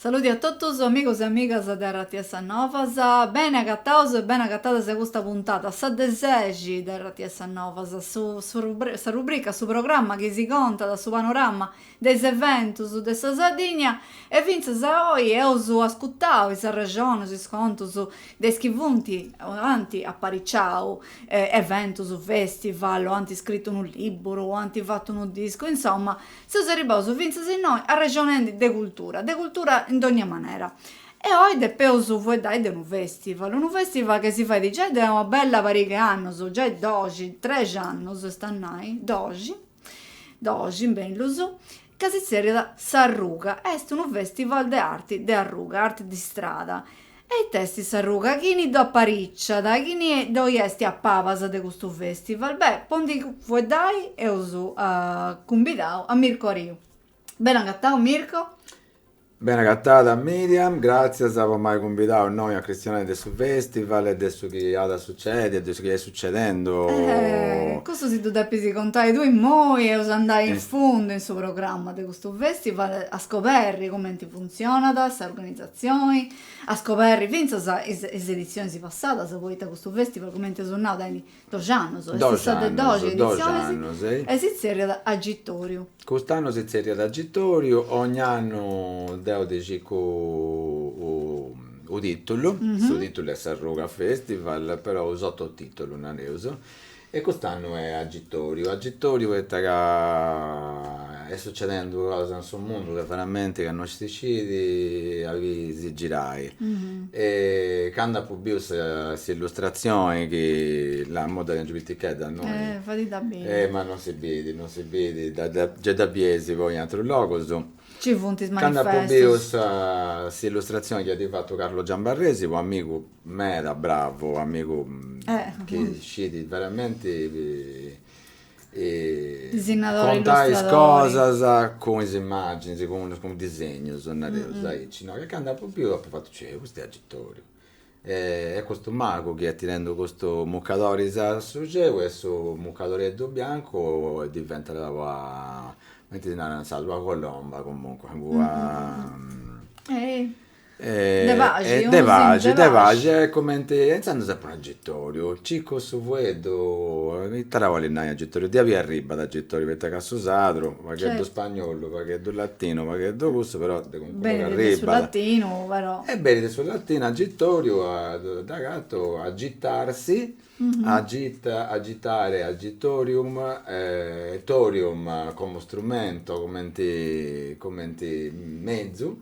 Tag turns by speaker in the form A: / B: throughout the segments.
A: Saludi a totus amigos e amigas de rts Novas, beni agataus e beni agatadas a custa puntada, sa de sexi, de rts Novas, su sa rubrica, su programma chi si contat su panorama de is eventus de sa Sardigna e fintzas a oi eus ascutau is arrexonus, is contus de is chi funt o ant apariciau eventus, festival o ant scritu unu libburu o ant fatu unu discu, insoma seus arribaus fintzas innoi arrexonendi de cultura, de cultura in dogna manera. E oi depeus fueddai de unu festival, unu festival chi si fait giai de una bella pariga 'e annus, giai doxi, trexi annus est a nai, doxi, Doxi bellus, ca si tzerriat S'Arruga, est unu festival de arti de arruga, arti di strada, e ita est s'arruga? Chini ddo apariciat, chini ddoi est a pabas de custu festival, beh, po ndi fueddai eus cumbidau a Mirko Ariu. Bene agatau Mirko?
B: Bene agatada Miriam, gràtzias po m'ai cumbidau innoi a cristionai de su festival e de su chi at a sucedi e de su chi est sucedendu. Eh, custu
A: si ddu depis contai tui immoi, eus a andai in fundu in su programma de custu festival, a scoberri cumenti funtzionat s'organizatzioni, a scoberri fintzas is is edizionis passadas, poita custu festival cumenti eus nau tenit Doxi annus, est sa de doxi editzionis e si tzerriat Agitoriu. Cust'annu si tzerriat
B: Agitoriu, ogn'annu deu ddi circu unu tìtulu, su tìtulu est S'arruga Festival, però unu sototìtulu nareus, e cust'annu est Agitoriu. Agitoriu poita ca Est sucedendu cosa in su mundu chi veramenti ca no si sciti a chi si girai. E candu apu biu s'illustratzioni chi là imui dd'aiant giai pitichedda innoi. Eh, fadidda beni. Eh, ma
A: non si bidi, non
B: si bidi, dda, gei dda bieis poi in atrus logus. Ci funt is manifestus.
A: Candu apu
B: biu sa, s'illustratzioni chi at fatu Carlo Giambarresi, u' amigu meda bravu, u' amigu chi sciti veramenti
A: Contai is cosas cun
B: is immàginis, cun disegnus, nareus aici, no, ca candu apu biu apu fatu, cioè, custu est agitoriu. E custu magu chi est tirendu custus mucadoris a su ceu e su mucadoreddu biancu diventat ua, cumenti si narat in sardu, ua colomba, comunque, ua De paxi, unu disinu de paxi. E cumenti, e intzandus s'est ponu agitoriu, circu su fueddu, ita at a bolli nai agitoriu, de aui arribat agitoriu, poita ca su sardu, u' pagheddu spagnolu, u' pagheddu latinu, u' pagheddu cussu, però de calincunu puru arribat. Benit su
A: latinu, però. E benit su
B: latinu agitoriu, dd'agatu agitarsi, agita, agitare agitorium, torium como strumento, cumenti, cumenti mezu,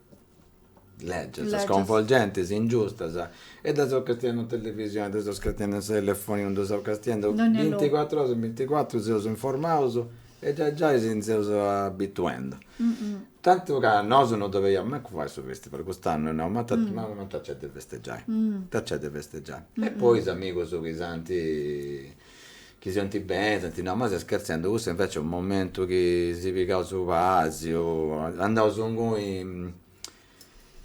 B: Lègias, sconvolgentis, ingiustas, e ddas seus castiendu in televisioni, ddas seus castiendu in su telefoninu, ddas seus castiendu binticuatru oras su binticuatru, seus informaus e giai giai si nci seus abituendu. Tantu ca nosu non ddu depiaus mancu fai su festival, cust'annu nau, ma ita nc'est de festeggiai, ita nc'est de festeggiai. E poi is amigus chi s'ant Chi si 'onti beni, s'anti nau, ma ses scherzendu, custu invece est unu momentu chi si pigaus su pasiu, andaus ingui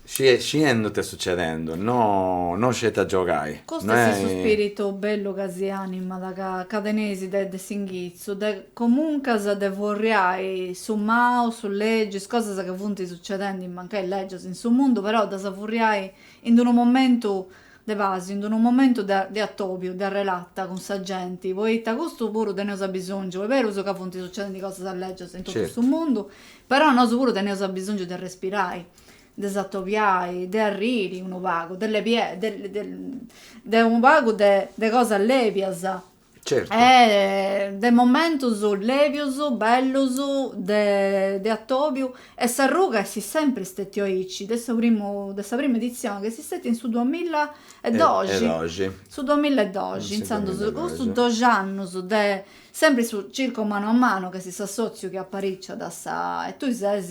B: sciendu ita est sucedendu, no no sceti a giogai. Custu est su
A: spiritu bellu ca si animat, ca ca teneis de de s'inghitzu, de comuncas de furriai su mau, su legiu, is cosas ca funt sucedendi, mancai legias in su mundu, però ddas furriai in d'unu momentu De pàsiu, in d-unu momentu de de atòbiu, de arrelata cun sa genti, poita custu puru teneus abisòngiu, est berus ca funt sucedendi cosas lègias in totu su mundu, però nosu puru teneus abisòngiu de respirai, de s'atobiai, de arriri unu pagu, de lebiai, de de de unu pagu de de cosas lèbias
B: e
A: de momentus lèbius, bellus, de atòbiu e s'arruga est sempri stètiu aici, de su primu, de sa primu editzioni chi est stètiu in su duamilla e doxi, su duamilla e doxi, intzandus custus doxi annus de sempri su circo mano a mano chi est s'assòtziu chi apariciat a sa, e tui ses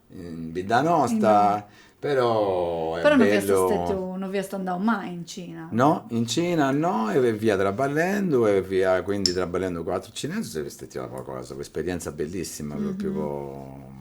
B: in bidda
A: nosta
B: però est però non fiat
A: bellu
B: stetiu non fiast andau
A: mai in Cina no in Cina
B: no e fia traballendu e fia quindi traballendu cun atrus cinesus e fiat stetia una cosa una isperienza bellissima propriu po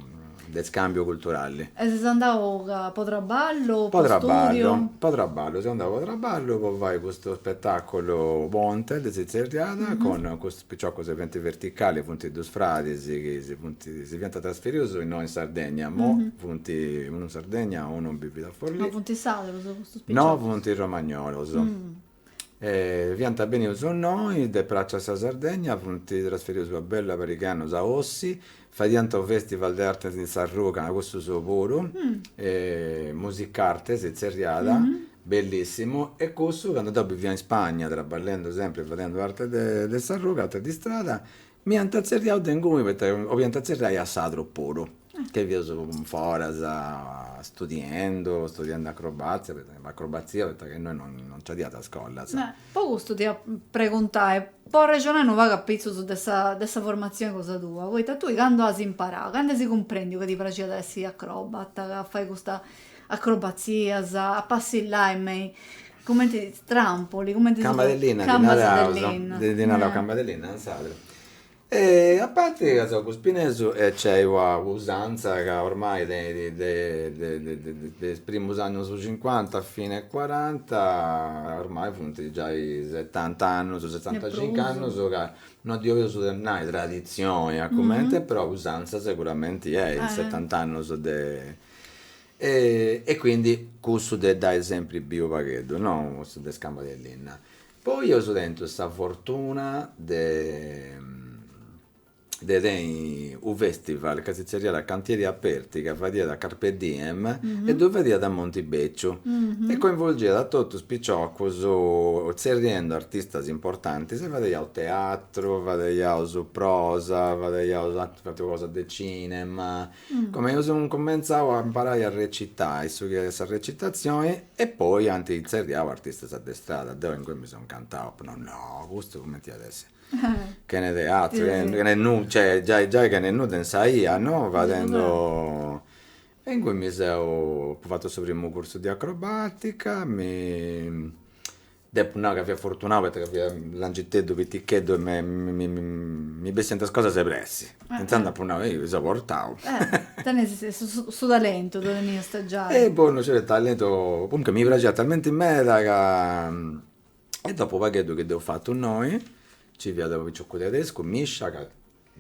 B: de scambiu culturali e ses
A: andau ca po traballu po studiu po traballu seu
B: andau po traballu po fai custu spetaculu Pontes si zerriat cun custus Piciocus eventi verticali funt dus fradis chi si funt si fiant trasferius innoi in Sardegna, mo funt unu in Sardegna e unu bivit a Forlì. Ma funt sardus
A: custus piciocus? No
B: funt romagnolos. E fiant benius innoi ddis praxiat sa Sardegna, funt trasferius po bella pariga 'e annus a Ossi, Fadiant unu festival de artes in s'arruga, cussus puru, Musicarte si tzerriat, bellissimu, e cussu candu deu bivia in Spagna traballendi sempri e fadendi artes de s'arruga, artes de istrada, m'iant tzerriau de inguni poita oliant tzerriai a Sardus puru, ca fiaus foras studiendi, studiendi acrobatzia, acrobatzia poita ca innoi non nci fadiant is scolas Po custu
A: t'ia preguntai, po arrexonai unu pagu apitzus de sa de sa formatzioni cosa tua, poita tui candu as imparau, candu as cumprendiu ca ti praxiat a essi acrobata, a fai custa acrobatzias, a passillai me i cumenti trampoli, cumenti si. Cambas de linna ddi naraus,
B: ddi
A: narau cambas de
B: linna intzandus E a parti ca seu Guspinesu nc'est una usantza ca ormai tenit de is primus annus cincuanta fine cuaranta, ormai funt giai setant'annus, setantacinc'annus
A: ca
B: no ddi 'olius nai traditzioni a cumenti, però usantza seguramenti est, setant'annus de e quindi cussu de dd'ai sempri biu u' pagheddu, no cussu de is cambas de linna Poi eus tentu sa fortuna de de tenni u festival ca si zerriat Cantieri Aperti ca fadiat a Carpe Diem e ddu fadiat a Monti Beciu e coinvolgiat a totus is piciocus zerriendi artistas importantis e fadeiaus teatru fadeiaus prosa fadeiaus atras cosas de cinema Comenti eus incumentzau a imparai a recitai su chi est sa recitazioni e poi ant tzerriau artistas de strada, deu inguni mi seu incantau, apu nau, no, custu cumenti at essi, chene teatru, chene nudda, cioè giai giai chene nudda in sa 'ia, no, fadendi, e inguni mi seu, apu fatu su primu cursu de acrobatica, mi Depu nai ca fia fortunau poita ca fia langiteddu, piticheddu e mi bessiant is cosas de pressi. Intzandus apu nau, ehi, seu portau. Tenias
A: su talentu, ddu teniast giai. E boh no sciu
B: talentu, comunque mi praxiat talmenti meda ca. E dopu u' pagheddu chi deu apu fatu innoi, nci fiat u' picioccu tedescu, Mischa, ca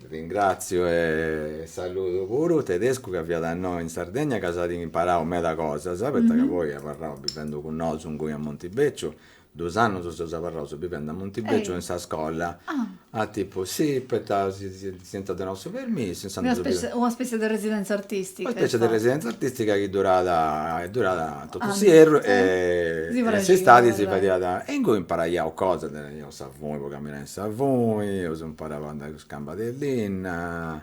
B: Ringràtziu e saludu puru Tedescu ca fiat innoi in Sardegna ca s'at imparau meda cosas, poita ca poi est abarrau bivendi cun nosu inguni a Montibéciu, dus annus seus abarraus bivendi a Montibéciu in sa scolla, tipu sì poita si ant donau su permissu, Una
A: specie de residenza artistica. Una specie
B: de residenza artistica chi durat durat totu s'ierru e
A: s'istadi si fadiat
B: e inguni
A: imparaiaus
B: cosas Sa funi po caminai in sa funi, eus imparau a andai cun is cambas de linna,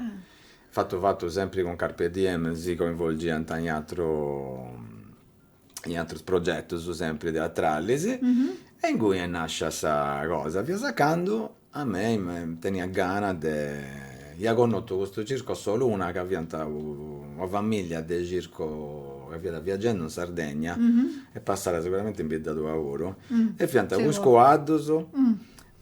B: fatu fatu sempri cun Carpe Diem, si coinvolgiant in atru in atrus progetus sempri teatralis, e inguni est nascia sa cosa, fiat candu a mei mi teniat gana de Ia connotu custu circu Soluna ca fiant una familia de circu ca fiat viagendu in Sardegna est passau siguramenti in bidda tua puru e fiant cun is cuaddus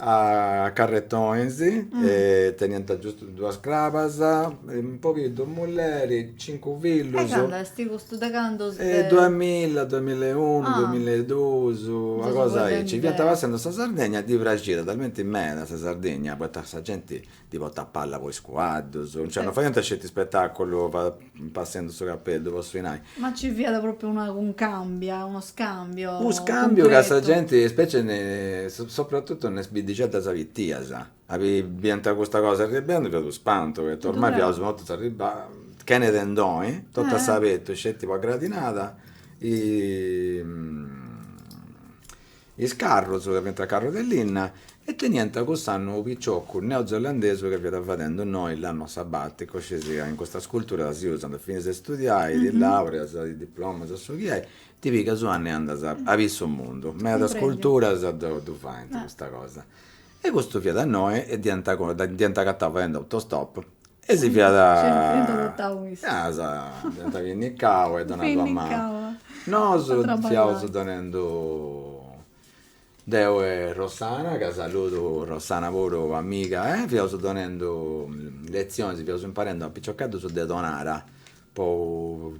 B: a carretonis e teniant giustu duas crabas e pobiddu mulleri cincu fillus. E candu
A: est custu
B: de
A: candu?
B: Duamilla duamilla e
A: unu
B: duamilla e dus una cosa aici fiant
A: passendu
B: sa Sardegna ddi praxiat talmenti meda sa Sardegna poita sa genti Ddi potat palla po is cuaddus. Cioè no faiant sceti ispetàculu passendu su capellu po su inai. Ma nci fiat pròpriu
A: una cuncàmbia, unu scàmbiu cuncretu? U scàmbiu
B: ca sa
A: genti,
B: specie sopratutu in is biddixeddas pitias, biant custa cosa arribbendu fiat unu spantu, poita ormai fiaus mortus arribbaus, chene tendoni, totu a s'abertu sceti po gradinada Is carrus ca fiant carrus de linna e teniant cuss'annu unu piciocu neozelandesu ca fiat fadendu innoi l'annu sabaticu, scis in custas culturas si usant, finis de studiai, ti laureas, ti diplomas o su chi est, ti pigas u'annu e andas a biri su mundu, medas culturas ddu faint custa cosa E custu fiat innoi e dd'hiant agatau fadendu autostop e si
A: fiat
B: dd'hiant pinnicau e donau una manu.
A: Nosu fiaus
B: donendu deu e Rossana, ca saludu Rossana puru amiga, fiaus donendu letzionis, fiaus imparendu a piciocheddus de Tonara po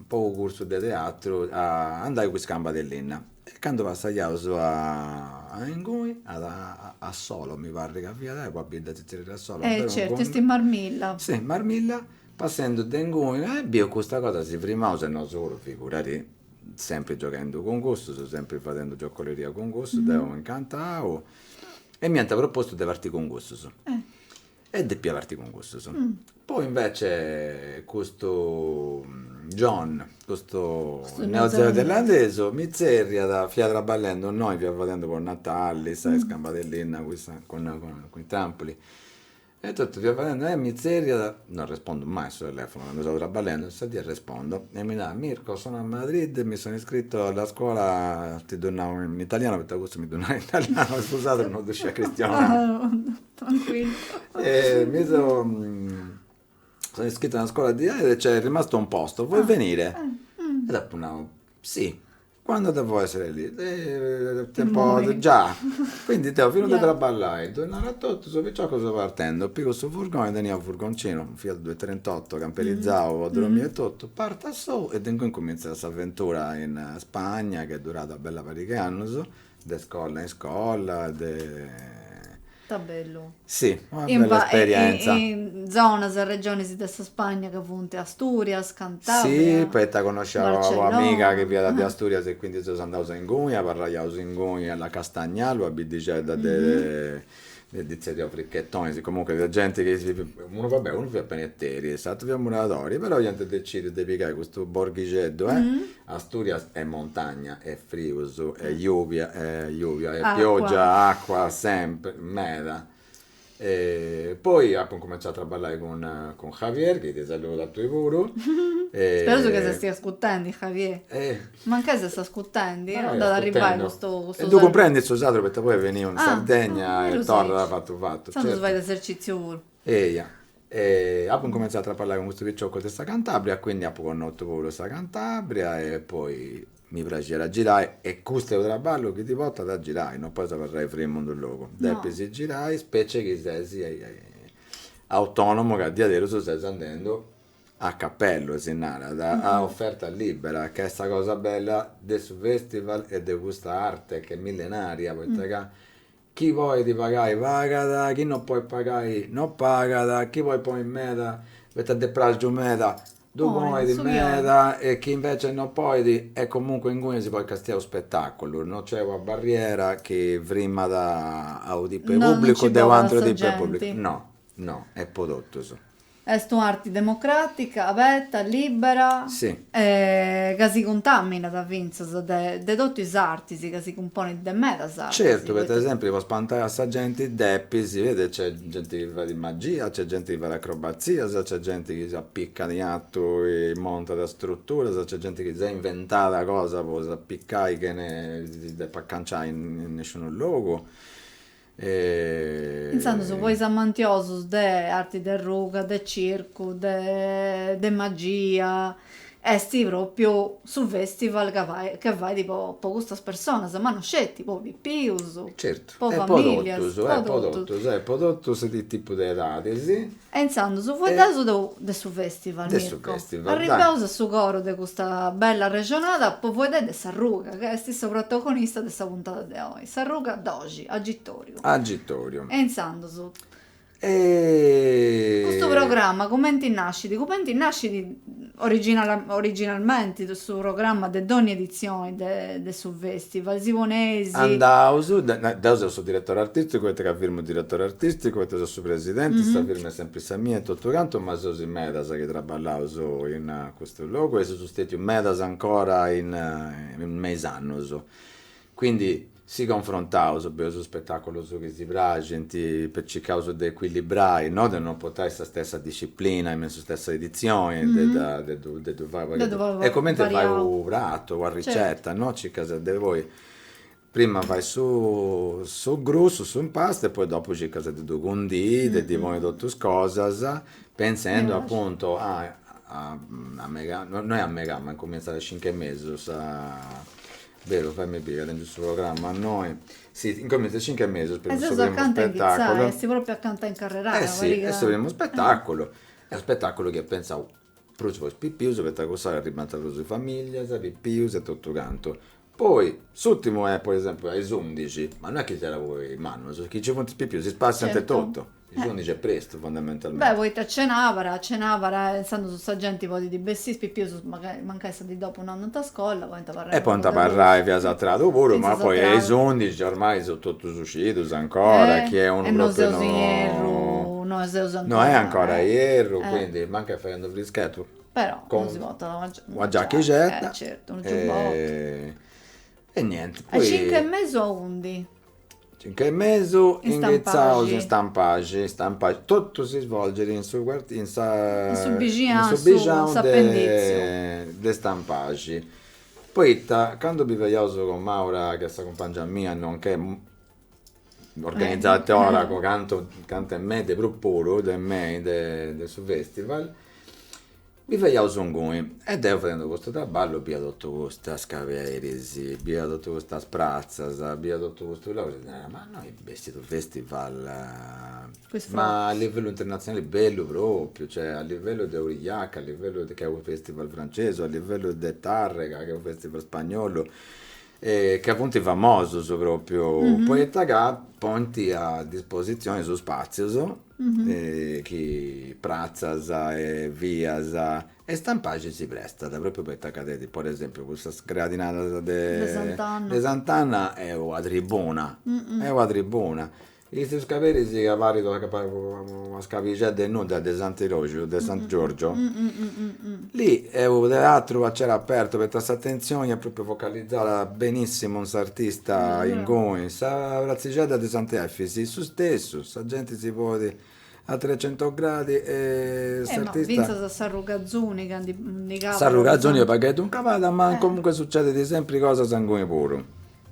B: po u cursu de teatru a andai cun is cambas de linna e candu passaus a inguni a Assolo mi parrit ca fiat una bidda si tzerriat Assolo e certu est in Marmilla
A: si in
B: Marmilla passendu de inguni e biu custa cosa si frimaus e nosu puru figurati sempri gioghendu cun cussus sempri fadendu giocoleria cun cussus deu incantau e m'iant propostu de parti cun cussus
A: E
B: depia parti cun cussus. Poi invece custu John, custu
A: neozelandesu, mi tzerriat,
B: fia traballendu innoi, fia fadendu po Natali is cambas de
A: linna cun
B: sa, cun i trampuli, e totu fia fadendu, e mi tzerriat, no arrespondu mai a su telefonu candu seu traballendu, sa dì arrespondu e mi narat, Mirko sono a Madrid, mi sono iscritto alla scuola, ti ddu nau in italiano poita custu mi ddu narat in italiano, cuss'ateru non ddu scidiat chistionai Mi sono iscritto a una scuola di arte e c'è rimasto un posto, vuoi venire? E dd'apu nau, si, quando devo essere lì?
A: Già,
B: quindi deu finu de traballai,
A: ddu nau
B: a totus, piciocus seu partendu, pigu su furgoni, tenia u' furgoncinu, u' Fiat duetrentotto camperizau po
A: drommiri e totu,
B: partu a
A: sou
B: e de inguni cumintzat s'avventura in Spagna chi est durada una bella pariga 'e annus De scola in scola
A: de. Ta bellu. Si, una bella
B: esperienza. In, in zonas,
A: regionis de sa Spagna ca funt Asturias, Cantabria. Si, poita
B: connoscia una amiga chi fiat de
A: Asturias
B: e quindi seus andaus a inguni, abarraiaus inguni a la Castañal, una biddixedda de Ddi zerriaus fricchetonis, comunque fiat genti chi si, unu va bè, unu fiat paneteri e s'aturu fiat muradori, però iant decidiu de pigai custu borghixeddu e asturias
A: est
B: montagna e frius e lluvia e lluvia e piogia e acua sempri, meda. Poi apu incumentzau a traballai cun cun Javier, chi ti saludat a tui puru. Speraus
A: ca si stiat ascurtendi Javier.
B: Mancai
A: s'est ascutendi, no dd'at a arribai custu saludu. E ddu
B: cumprendit
A: su
B: sardu poita poi est beniu in Sardegna
A: e torrat
B: fatu fatu. Intzandus fait esercitziu
A: puru. Eia.
B: E apu incumentzau a traballai cun custus
A: piciocus
B: de sa Cantabria, quindi apu connotu puru sa Cantabria e poi mi praxiat a girai e custu est u' traballu chi ti portat a girai, non podis abarrai frimu in d'u' logu, depis girai, specie chi ses autonomu ca a diaderus ses andendu a capellu si narat, a oferta
A: libera,
B: ca est sa cosa bella de su festival e de custa arte che est millenaria, poita ca
A: chi
B: podit pagai pagat, chi no podit pagai no pagat, chi podit ponni meda poita dd'est praxiu meda ddu ponit
A: meda
B: e
A: chi
B: invecias no podit est comunque inguni si podit castiai u' spetaculu, no nc'est una barriera chi frimat a u' tipu 'e publicu de u' aturu
A: tipu 'e publicu,
B: no
A: No,
B: est po totus. Est
A: un'arti democràtica, aberta, lìbera. Si.
B: E ca
A: si cuntàminat fintzas de de totu is artis, ca si cumponit de medas artis. Certu, poita. Per esèmpiu, po
B: spantai a sa genti depis, si beni, nc'est genti chi fait magia, nc'est genti chi fait acrobatzias, nc'est genti chi s'apicat in atu e montat is struturas, nc'est genti chi s'est inventada cosa po s'apicai chene si depi aganciai in nisciunu logu.
A: e. Intzandus po is amantiosus de arti de ruga, de circu, de magia, est pròpriu su festival ca fait, che fait po po custas personas, ma no sceti, po pipius, po familias, po totus, po totus, po
B: totus is tipus de edadis. E intzandus faeddeus
A: de de su festival, Mirko,
B: arribbeus a su coro de
A: custa bella arrexonada po faeddai de s'arruga, ca est issa protagonista de sa puntada de oi. S'arruga doxi, agitoriu. Agitoriu. E
B: intzandus.
A: E. Custu programma cumenti nascit? Cumenti nascit originala originalmenti su programma de dogni editzioni de de su festival? Si poneis. Andaus,
B: deu seu su diretori artisticu poita ca firmu diretori artisticu poita seu su presidenti, sa firma est sempri sa mia e totu cantu, ma seus in medas chi traballaus in custu logu e seus stetius medas ancora in me is annus. Quindi si confrontaus bieus is spetaculus chi si praxint, circaus de equilibrai, no de no portai sa stessa disciplina in su stessa edizioni, de de ddu de ddu fai pagu variau. E cumenti fai u pratu, una ricetta, no, circas de ponni, prima fai su su grussu, su impastu e poi dopu circas de ddu cundii, de ddi ponni totu is cosas, pentzendi apuntu a a a megai, no no est a megai ma incumintzat a is cincu e mesu sa Beru, fai-mì biri, tengu su programma innoi, si incomintzat cincu e mesu est su
A: primu spetaculu,
B: est
A: propriu acanta
B: in
A: carrerada, eh si, est su primu
B: spetaculu, est unu spetaculu chi est pentzau prus po is pipius poita cuss'ora arribant prus familias, pipius e totu cantu, poi s'urtimu est po esempiu a is undixi, ma non est chi sceti po is mannus, chi ci funt is pipius si spassiant e totu Is
A: ùndici
B: est prestu, fundamentalmenti. Beh, poita est
A: cenàbara, est cenàbara e intzandus sa genti podit bessì, is pipius mancai, mancai sa dì dopu non andant a scola, podint abarrai E podint abarrai,
B: fintzas a tradu puru, ma poi a is ùndici ormai
A: sunt
B: totus sciidus ancora, chi est unu propriu no. E non seus in ierru, no seus
A: ancora. No est ancora
B: ierru, quindi mancai
A: fadendi
B: u' frischetu. Però unu si
A: portat una
B: giacca. Una
A: giachixedda.
B: E certu, unu
A: giubbottu.
B: E nienti, poi. A is cincu e mesu
A: aundi. Cincu e
B: mesu
A: inghitzaus in Stampaxi, Stampaxi,
B: totu si svolgit in su in sa
A: in su bixinau de Stampaxi,
B: poita candu biviaus cun Maura chi est sa cumpangia mia nonchè organizatora po cantu cantu 'e mei de prus puru de mei de su festival Biviaus inguni e deu fadendi custu traballu bia totu custas scaberis, bia totu custas pratzas, bia totu custu logu e narà, ma innoi bessit unu festival
A: ma a livellu
B: internatzionali bellu propriu, cioè a livellu de Aurillac, a livellu de, ca est unu festival francesu, a livellu de Tarrega, ca est unu festival spagnolu, ca funt famosus propriu, poita ca ponint a disposizioni is spatzius chi pratzas e vias e Stampaxi si prestat propriu poita ca tenit po esempiu cussas gradinadas de
A: de Sant'Anna
B: est una tribuna est una tribuna custus scaberis chi parit una scabixedda de nudda de Sant'Iroxi de San Giorgio Lì est unu teatru a celu apertu poita s'atenzioni est propriu focalizada benissimu in s'artista inguni. Sa pratzixedda de Sant'Efis is su stessu, sa genti si ponit a trecento gradi e s'artista. Ma fintzas s'arruga
A: Azuni candu ndi cabat. S'arruga Azuni est u' pagheddu
B: in cabada ma comunque sucedidi sempri cosas inguni puru.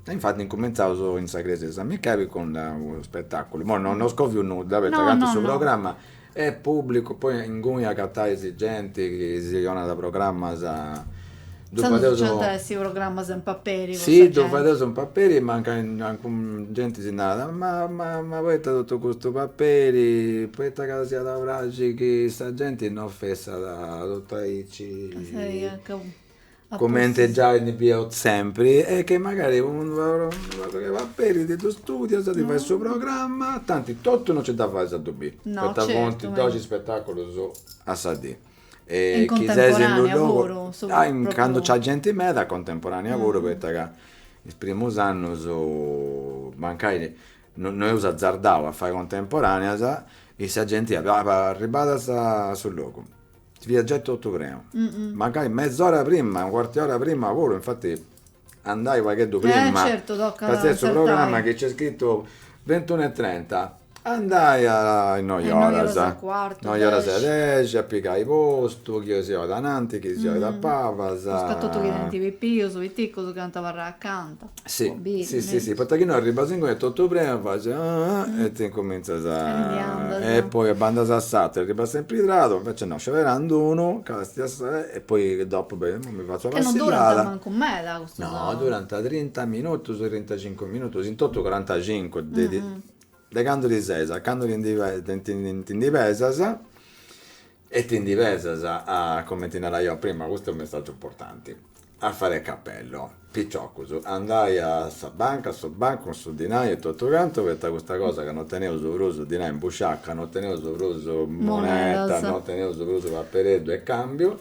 B: E infati incumentzaus in sa Crèsia de San Micheli cun unu spetàculu, imoi no no scoviu nudda poita chi tanti su programma est pùblicu, poi inguni agatais genti chi si donat programmas, insaras si nci antaiat su programma in
A: paperi po sa genti. Sì, ddu fadeus
B: in paperi, mancai genti si narat, ma ma ma poita totu custu paperi, poita ca si at a praxi chi sa genti non fessat totu aici comente giai ndi fiaus sempri e che magari unu paperi ti ddu studias, ti fais su programma, tanti totu no nci dda fais a ddu bi, poita funt
A: doxi spetaculus
B: a sa dì e chi
A: seis in
B: unu logu,
A: candu
B: nc'at
A: genti
B: meda contemporanea puru poita ca is primus annus mancai no eus azardau a fai contemporaneas e sa genti iat, apu arribada a su logu Fiat giai totu prenu. Mancai mez'ora prima, u' cuartu 'e ora prima puru, infati andai u pagheddu prima. Eh certu, tocat azertai. Ca su
A: programma chi
B: nc'est scritu ventunu e trenta, andai a is noi oras. Noi oras
A: e cuartu, dexi. Noi oras e
B: dexi, a pigai postu, chi si oit ananti, chi si oit a pabas. Prus ca totu
A: chi tenint pipius, piticus, chi ant a abarrai acanta. Si,
B: si, si, si, poita chi no arribas
A: inguni
B: est totu prenu faci e ti incumintzas
A: a, e poi
B: bandas a s'atera, arribas sempri tradu, invece no, scioberandi unu, castias e poi dopu, beh, imui mi fatzu una passillada. Ca non durant
A: mancu
B: meda
A: custus. No, durant trinta
B: minutus, trintacincu minutus, in totu corantacincu, de candu ti seis a candu ti ndi pesas E ti ndi pesas a, comente naraia prima, custu est u' messàgiu importanti, a fare cappello, piciocus, andai a sa banca, a su bancu, cun su dinai e totu cantu, poita custa cosa ca no teneus prus dinai in busciaca, no teneus prus monedas,
A: no
B: teneus prus papereddu e cambiu,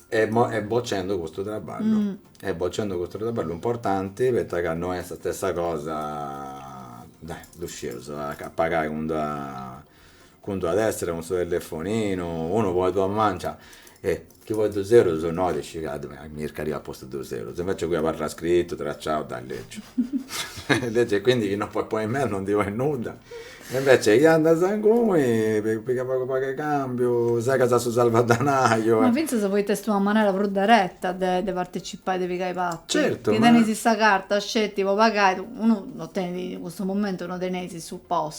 B: est bocendu custu traballu, est bocendu custu traballu importanti, poita ca no est sa stessa cosa, dai, ddu scius, a pagai cun d'una Cun d'una tessera cun su telefoninu, unu poit donai mancia e chi poi dus eurus no at iscigadu, mi mi chircaria a postu dus eurus, invece ingui abarrat scritu, tracciau, dda leggiu, leggiu e quindi chi no poi ponni meda no ndi poi nudda, e invece chi andas ingui pigas pagu pagu 'e cambiu, segas su salvadanaio e. Ma finzas poita
A: est una manera prus dereta de de partecipai, de pigai parti. Certu, ma. Chi tenis sa
B: carta
A: sceti po pagai, unu no tenit, in cussu momentu no teneis su pos.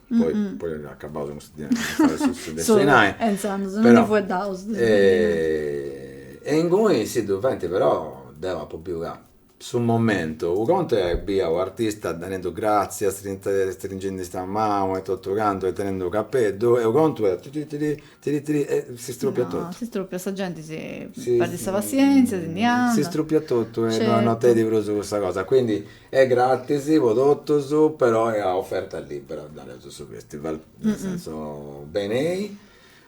B: poi, mm-hmm. poi acabaus cun su dinai, Solo, e
A: intzandus, non
B: ndi
A: fueddaus.
B: E, e inguni, si, ddu fenti, però, deu apu biu ca su momentu, u' contu est bi' a u' artista narendu gratzi, astrinta, stringendi sa mau e totu cantu e tenendu u' capeddu, e u' contu est tiri tiri, tiri tiri, e s'istrupiat totu. No,
A: s'istrupiat, sa genti
B: si, si perdit sa
A: passienzia, si
B: ndi andat. S'istrupiat totu e no, no tenit prus cussa cosa,
A: quindi
B: Est gratis po totus, però est a oferta libera, nareus su festival, nel senso benei,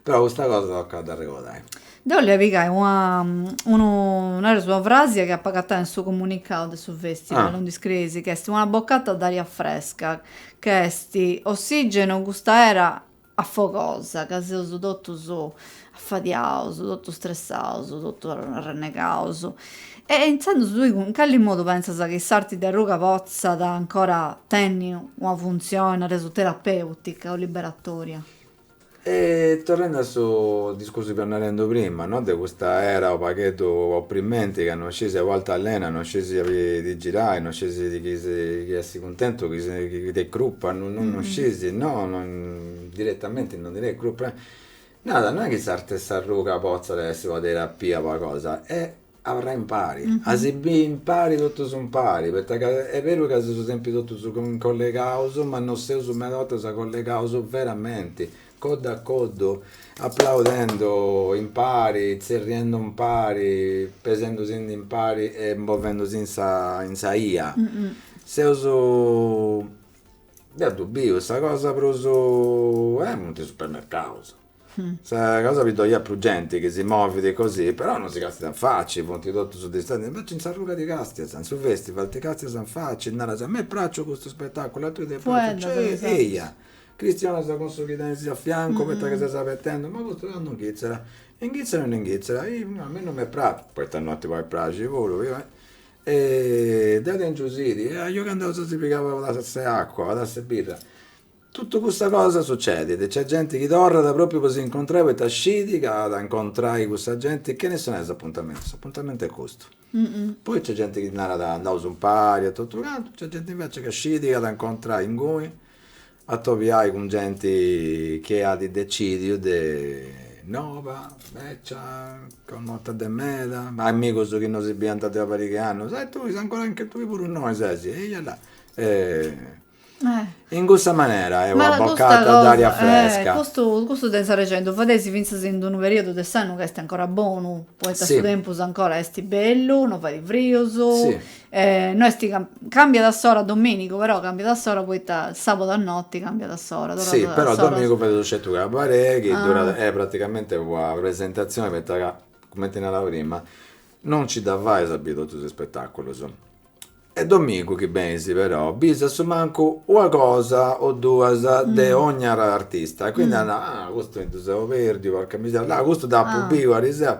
B: però custa cosa tocat a dd'arregodai. Deu bolia pigai
A: una nareus una frasia chi apu agatau in su comunicau de su festival, innui iscrieis, chi
B: est
A: una boccata d'aria fresca, ca est ossigenu custa era afogosa ca seus totus afadiaus, totus stressaus, totus arrennegaus, e intzandus tui cun cali modu pentzas chi s'arti de arruga potzat ancora tenni una funtzioni, nareus, terapèutica o liberatoria?
B: E torrendi a su discursu chi fia narendi prima, no, de custa era u' pagheddu opprimenti ca non scisi a bortas alenai, non scisi aubi ti girai, non scisi chi essi tentu chini si de crupa no no scisi no direttamenti no ndi tenit crupa narat no est chi s'arti de s'arruga potzat essi una terapia una cosa, est abarrai impari a si biri impari totus impari poita ca est beru ca seus sempri totus collegaus ma no seus meda 'ortas collegaus veramenti coddu a coddu, aplaudendo impari, tzerriendo impari, pesendosendi impari e movendosi in sa in sa 'ia. Seus, deu ddu biu, sa cosa prus, e funt is supermercaus, sa cosa chi ddoi at prus genti chi si movit così, però non si castiat in facci, funt totus distanti, invecias in s'arruga ti castias, in su festival ti castias in facci, naras, a mei praxit custu spetaculu, a tui ti praxit, eia chistionas cun su chi tenis a fiancu poita chi ses abetendu, ma custu candu inghitzat, inghitzat o no inghitzat, a mei non m'est praxia, poita no a mei praxia puru e deu tengiu sidi e ajo ca andaus a si pigai una tassa 'e acua, una tassa 'e birra, totu custa cosa sucedit, nc'est genti chi torrat propriu po si incontrai poita scidi ca at a incontrai cussa genti, chene si nai s'apuntamentu, s'apuntamentu est custu, poi nc'est genti chi narat andausu impari e totu cantu, nc'est genti invecias chi scidi chi at a incontrai inguni atobiai cun genti chi at decìdiu de nova, becia, connota de meda, amigus chi no si biant de una pariga 'e annus, e tui ancora, anche tui puru innoi ses, eia là. In custa manera est una boccata
A: d'aria
B: fresca.
A: Custu,
B: custu de
A: s'arreu fadeisi fintzas in d'unu periodu de s'annu ca est ancora bonu, poita su tempus ancora est bellu, no fait frius. E
B: no est
A: ca cambiat a s'ora dominigu però cambiat a s'ora poita sabadu a noti cambiat a s'ora torrat a s'ora. Si però dominigu fait su
B: scetu
A: cabaret
B: chi est praticamente una presentazione poita ca cumenti narau prima no nci dda fait a biri totus is spetaculus e dominigu chi benisi però bisi a su mancu una cosa o duas de ogni artista
A: e
B: quindi naras ah custu mi ddu
A: seu
B: perdiu porca miseria là custu dd'apu biu ariseru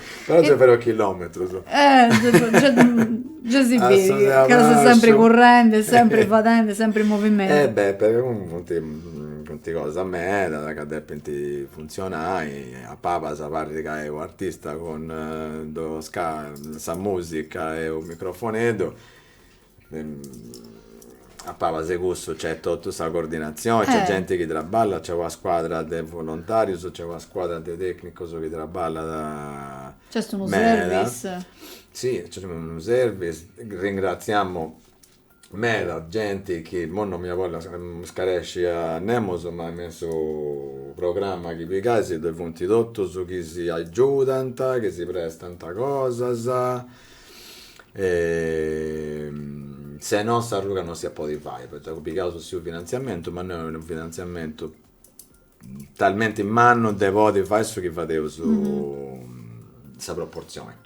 A: Però gei
B: fero chilòmetrus.
A: Eh, gei si biri, ca ses sempri currendi, sempri fadendi, sempri in movimentu. E beh, funt,
B: funt cosas medas ca depint funtzionai, a palas parrit ca est u'artista cun sa musica e u' microfoneddu A palas de cussu c'è totu sa coordinatzioni, c'è genti chi
A: traballat, c'è
B: una scuadra de volontarius, c'è una scuadra de tecnicus chi traballat meda.
A: Si, c'est
B: unu service. Ringraziamu meda genti chi imoi non mi bollu iscaresci a nemus, ma me in su programma chi pigais ddoi funt totus chi si agiudant, chi si prestant cosas e se no s'arruga non s'iat a podi fai poita ca pigaus sì u' finanziamentu ma no est unu finanziamentu talmenti mannu de podi fai su chi fadeus sa proportzioni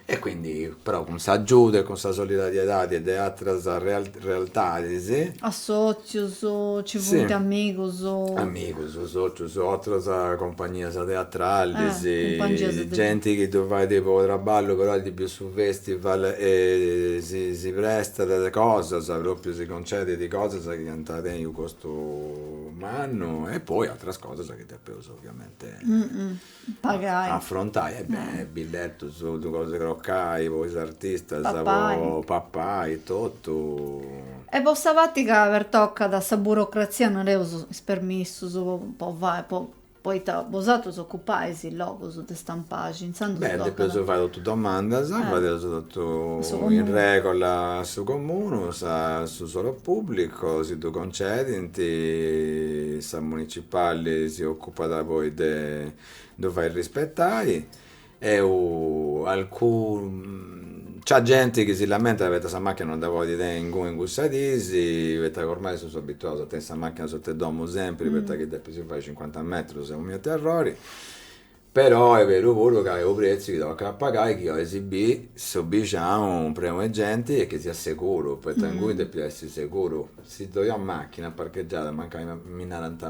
A: e
B: quindi però cun s'agiudu e cun sa solidariedadi de atras realtadis
A: Sòcius,
B: ci
A: funt amigus?
B: Amigus, sòcius, atras compagnias
A: teatralis, genti chi ddu
B: fait
A: po
B: traballu però at biu su festival e si prestat cosas, propriu si concedit cosas chi iant a tenni u' costu mannu e poi atras cosas chi depeus ovviamente
A: Pagai. Afrontai e
B: beh billettus logus 'e crocai po is artistas Papai.
A: po
B: papai totu. E po sa parti
A: ca pertocat sa burocrazia nareus is permissus po fai po poita bosatrus ocupai is logus de Stampaxi intzandus Beh depeus fai totu
B: domandas fadeus
A: totu in
B: regola a
A: su
B: comunu sa su suolo pubblico si ddu concedint sa municipali si occupat Apada poi de ddu fai rispetai. Eu alcun. Nc'at genti chi si lamentat poita sa machina non dda podit tenni inguni in cussas dis, poita ca ormai seus abituaus a tenni sa machina sot'e domu sempri, poita chi depeus fai cincuanta metrus Deus miu terrori. Però est beru puru ca est u' pretziu chi tocat a pagai chi ois bì su bixinau prenu 'e genti e chi siat seguru, poita inguni depit essi seguru. Si ddoi at machina parcheggiada, mancai mi narant,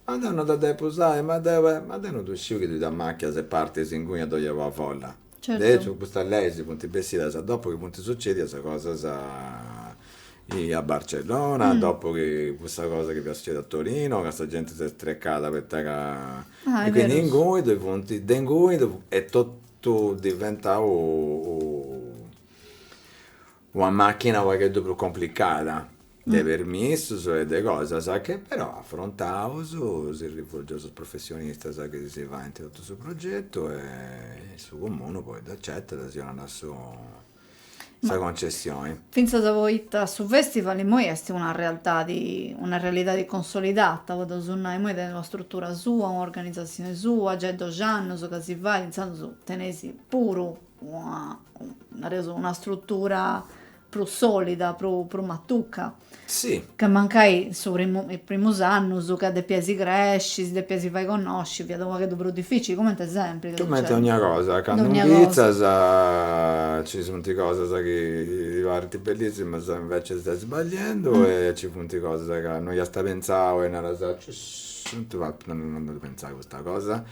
B: Ma deu no dda depu usai. Ma deu e. Ma deu no ddu sciu chi tui t'amàchias e partis inguni ddoi est una folla. Certu. De aici custas
A: leis funt
B: bessidas a dopu chi funt sucedias cosas a Barcellona, a dopu
A: chi
B: cussa cosa chi fiat sucedia a Torino, ca sa genti s'est strecada poita ca. Ah,
A: e
B: quindi inguni
A: ddoi funt,
B: de inguni ddoi funt, est totu diventau u Una màchina unu pagheddu prus complicada de
A: permissus e
B: de cosas chi però afrontaus si rivolgeus a is professionistas chi si fait totu su progetu e su Comunu poi dd'acetat si 'onat sa concessioni. Fintzas
A: poita su festival immoi est una realtadi una realidadi consolidata, podeus nai, immoi tenet una strutura sua, un'organizatzioni sua, giai doxi annus chi si fait, intzandus teneis puru una, nareus, una strutura prus solida, prus prus matuca. Si.
B: Ca mancai
A: in su primu, is primus annus ca depiaisi cresci, si depiaisi fai connosci, fiat u' pagheddu prus dificili, cumenti sempri. Cumenti dogna cosa,
B: candu
A: incumentzas
B: ci sunt cosas chi ti parint bellissimas e inveci stai sbagliendu e ci funt cosas ca no iasta pentzau e naras, cessu, no apu pentzau a custa cosa?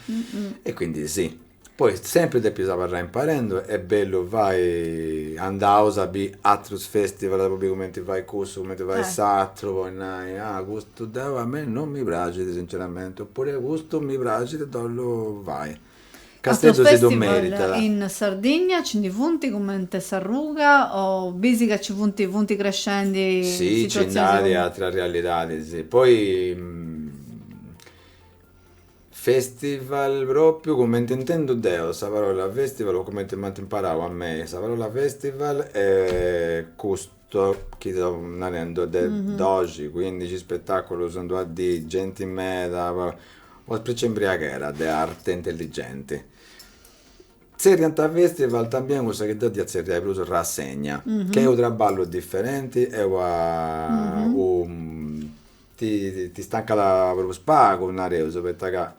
B: E quindi si. Poi sempri depis abarrai imparendu e est bellu fai andaus a biri atrus festival po biri cumenti fait cussu cumenti fait s'atru po
A: nai
B: ah custu deu a mei non mi praxit sinceramenti oppure custu mi praxit depu ddu fai
A: Casteddu si ddu
B: meritat. Atrus festival
A: in Sardigna ci ndi funt cumenti s'arruga o bisi ca ci funt funt crescendi situatzioni si comenti. Si ci nd'at
B: atrus
A: realidadis
B: poi Festival pròpiu cumenti intendu deu sa parola festival o cumenti m'ant imparau a mei sa parola festival est custu chi seu narendi de doxi cuindixi spetaculus in d'una dì genti meda una spreci 'e imbriaghera de arte intelligenti tzerriant festival tambien cussa chi deu dd'ia tzerriai prus rassegna chi est u' trabballu differenti e una Ti stancat prus pagu, nareus, poita ca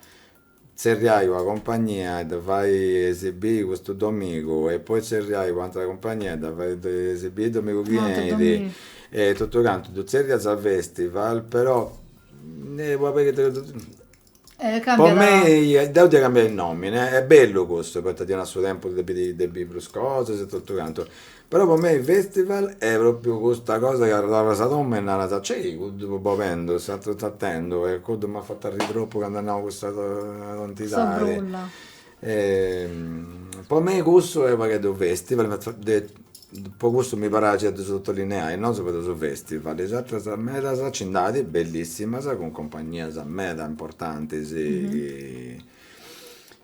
B: tzerriai una compagnia e dda fai esibii custu domigu e poi tzerriai un'atera compagnia e dda fai esibii domigu chi
A: 'enit
B: e
A: totu cantu ddu
B: tzerriant festival però Po
A: mei, deu dd'ia
B: cambiai nomini, est bellu custu poita ddi 'onat su tempus de biri de biri prus cosas e totu cantu, però po mei festival est propriu custa cosa ca torras a domu e naras, cei cuddu fut bolendu, s'ateru sartendu e cuddu m'at fatu arrii tropu candu at nau cussa tontidadi E po mei cussu est u' pagheddu festival po cussu mi praxit de sotolineai nosu fadeus u' festival is atras medas nci nd'at bellissimas cun compagnias meda importantis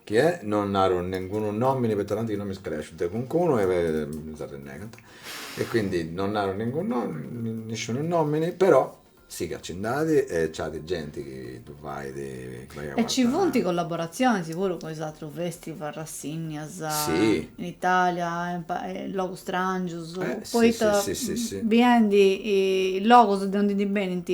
B: chi est no naru nengunu nomini poita tanti chi no mi scaresciu de calincunu e mi s'arrennegant e quindi no naru ningunu nisciunu nomini però Siat chi nd'at e nc'at genti chi ddu fait a E ci funt collaboratzionis
A: puru cun is atrus festival, rassinnias, in
B: Itàlia
A: e in logus stràngius, poita biendi is logus de undi ndi benint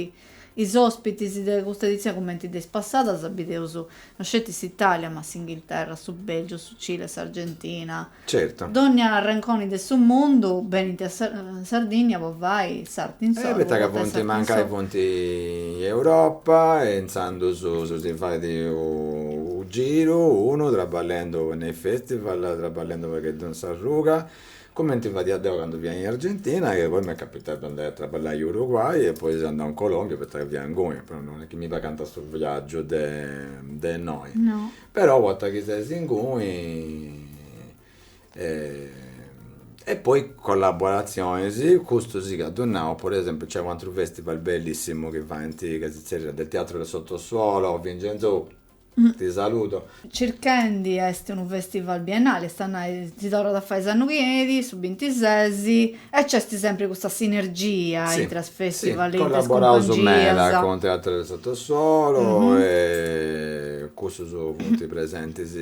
A: is òspitis de custa edizioni cumenti de is passadas, bideus no sceti s'Itàlia ma s'Inghilterra, su Bèlgiu, su Cile, s'Argentina, Certu.
B: Dònnia arrenconi
A: de su mundu benint a Sardìnnia po fai s'arte in s'arruga. E poita ca
B: funt
A: mancai funt in
B: Europa e intzandus si si fait u' giru unu traballendu in is festival, traballendu u' pagheddu in s'arruga, cumenti fadia deu candu fia in Argentina e poi m'est capitau de andai a traballai in Uruguay e poi seu andau in Colombia poita ca fia inguni, però non est chi mi pagant su viaggiu de innoi. No. Però
A: u'orta chi
B: ses inguni e poi collaborazionis, custu si ca ddu nau, pro esempiu nc'est u' ateru festival bellissimu chi faint, chi si zerriat del teatro del sottosuolo, Vincenzo ti saludo. Circhendi
A: est unu festival biennale, est a nai si torrat a fai s'annu chi 'enit, su bintises, E nc'est sempri custa sinergia intra is
B: festival e intra
A: is
B: cumpangias.
A: Collaboraus
B: meda cun
A: Teatro
B: del Sottosuolo e cussus funt presentis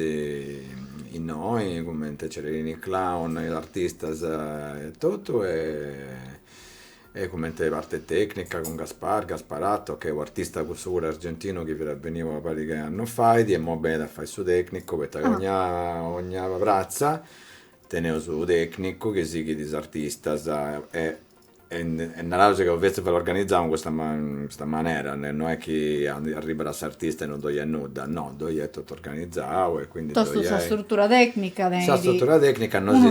B: innoi cumenti Cererini Clown, is artistas e totu e e cumenti parti tecnica cun Gaspar Gasparatto chi est u' artista cussu puru argentinu chi fiat beniu una pariga 'e annus fait e imoi benit a fai su tecnicu poita ca
A: 'ogna
B: pratza Teneus unu tecnicu chi sighit is artistas e e naraus ca su festival organizau in custa custa manera, no est chi arribat s'artista e non ddoi est nudda, no, ddoi est totu organizau e quindi ddoi est totu sa struttura
A: tecnica tenit. Sa struttura
B: tecnica
A: no
B: chi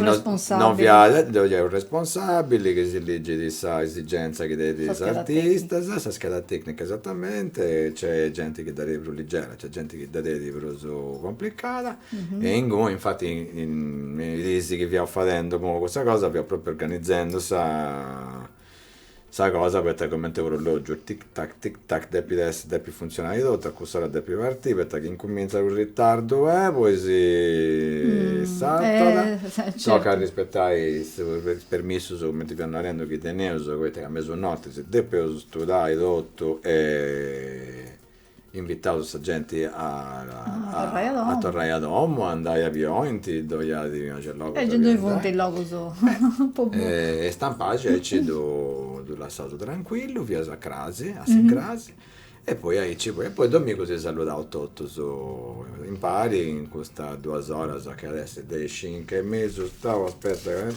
B: no fiat, ddoi est u' responsabili chi si ligit sa esigenza chi tenint is
A: artistas, sa scheda
B: tecnica esatamente, nc'est genti chi dda tenit prus ligera, nc'est genti chi dda tenit prus complicada E inguni, infati, me is diis chi fiaus fadendi po custa cosa fiaus propriu organizendi sa sa cosa poita cumenti orologiu, tic tac tic tac depit essi, depit funtzionai totu, a cuss'ora depit partii poita chi incumintzat u' ritardu e poi si sartat, tocat arrispetai is permissus cumenti fiaus narendi chi teneus poita ca a mesunotti si depit studai totu e invitaus sa genti
A: a a torrai a
B: domu,
A: a
B: andai a aundi bolint, ddoi at gei logus a ddoi
A: andai, e Stampaxi
B: aici ddu lassaus trancuillu, finas a crasi, a s'incrasi,
A: e
B: poi aici poi, e poi domingu si saludaus totus impari in custas duas oras chi at essi de is cinc e mesu, stau aspetta ca mi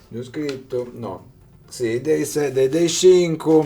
B: dd'apu scritu, no, si de is de is cincu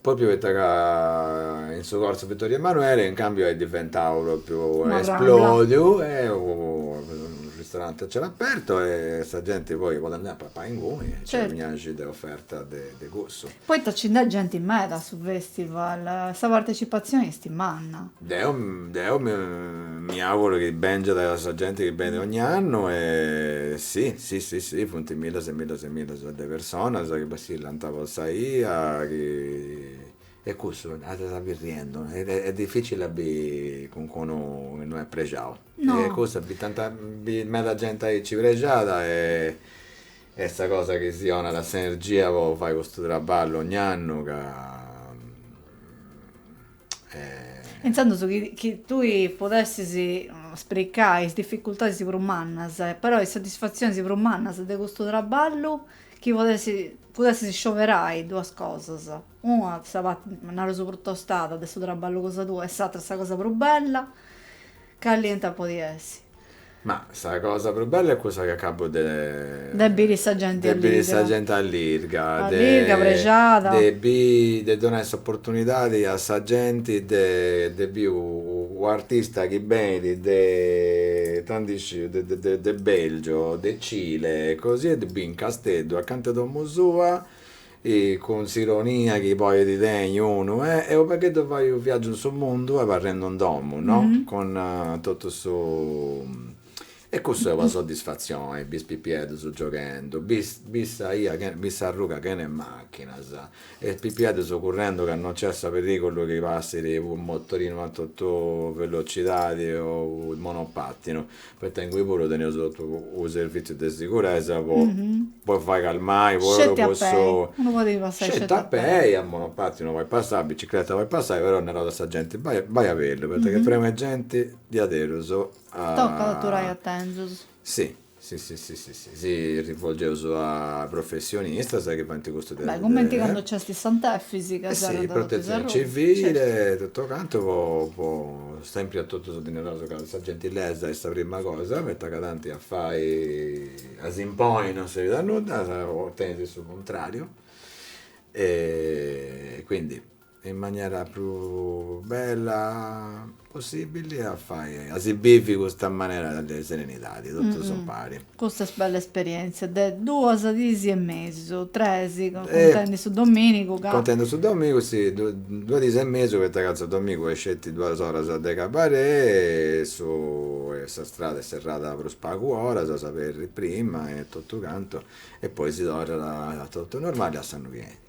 A: Pròpiu poita
B: ca in su Corso Vittorio Emanuele in càmbiu est diventau pròpiu, esplòdiu,
A: est
B: unu ristoranti a cielu apertu e sa genti poi podet andai a papai inguni e nc'est una 'naxi de oferta de cussu. Poita nci nd'est genti
A: meda a su festival, sa partecipatzioni est manna. Deo
B: deo mi auguro chi bèngiat sa genti chi benit ogn'annu e si si si si funt millas e millas e millas de personas chi passillant po sa 'ia chi e cussu dda bis arriendu est dificili a bi calincunu chi no est prexau e cussu, tanta, meda genti aici prexada est sa cosa chi si 'onat s'energia po fai custu traballu ogn'annu ca
A: Intzandus chi tui podessis spricai is dificultadis prus mannas, però e is satisfatzionis prus mannas de custu traballu, chi podessis scioberai duas cosas, una sa parti, naraus prus tostada de su traballu cosa tua e s'atra sa cosa prus bella, Cali iant a podi essi? Ma
B: sa cosa prus bella est cussa chi acabu de. De
A: biri sa genti allirga. De biri sa genti
B: allirga. Allirga, prexada.
A: De biri, de
B: donai s'oportunidadi a sa genti de de biri unu artista chi benit de ita 'ndi sciu, de de de Belgio, de Cile, così e de biri in Casteddu acanta 'e domu sua E cun s'ironia chi poi ddui tenit unu, est unu pagheddu fai unu viaggiu in su mundu abarrendu in domu, no, cun totu
A: su.
B: E cussu est una soddisfatzioni, biri is pipieddus gioghendu, biri sa 'ia, biri s'arruga chena 'e machinas, e is pipieddus currendu ca non nc'est su perigulu chi passit unu motorinu a totu velocidadi o su monopattinu, Poita ingui puru teneus totu unu servìtziu de siguresa po po fai calmai po cussu. Unu podit passai sceti
A: a pei.
B: Sceti a
A: pei, a monopatinu no podit
B: passai, a bicicreta podit passai, però naraus a sa genti, bai a bellu, poita ca est prenu 'e genti diaderus. Tocat a donai
A: atentzioni. Si
B: si si si Si rivolgeus a professionistas chi faint custu de. Beh, cumenti candu
A: nc'est Sant'Efis. Eh si, protetzioni
B: civile,
A: totu
B: cantu poi sempri a totus ddi naraus ca sa gentilesa est sa prima cosa poita ca tanti a fai, a s'imponi non serbit a nudda, ottenis su cuntrariu e quindi in manera prus bella possibili a fai, a si bivi custa manera de serenidadi totus impari. Custa bella
A: esperientzia de duas dis e mesu, tres, contendi su
B: dominigu
A: ca. Contendi su
B: dominigu si, duas dis e mesu poita ca su dominigu est sceti duas oras de cabaret e su e sa strada est serrada prus pagu oras, s'aberit prima e totu cantu e poi si torrat a totu normali a su noti.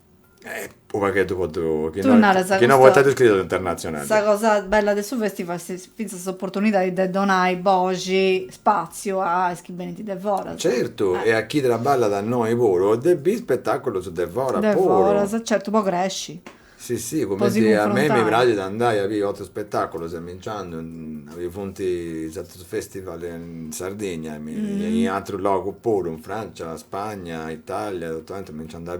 B: Eh, unu pagheddu po ddu, chi
A: no, chi no podiat essi scritu
B: internatzionali. Sa cosa
A: bella de su festival est fintzas s'oportunidadi de donai boxi, spaziu a is chi benint de foras. Certu, e a
B: chi traballat a innoi puru, de biri spetaculus de foras puru. De foras,
A: certu, po cresci. Si si,
B: cumenti a mei mi praxit andai a biri
A: otrus
B: spetaculus e mi nci andu, funt is atrus Festival in Sardigna e in atrus logus puru, in Francia, Spagna, Italia, totu aundi mi nci andu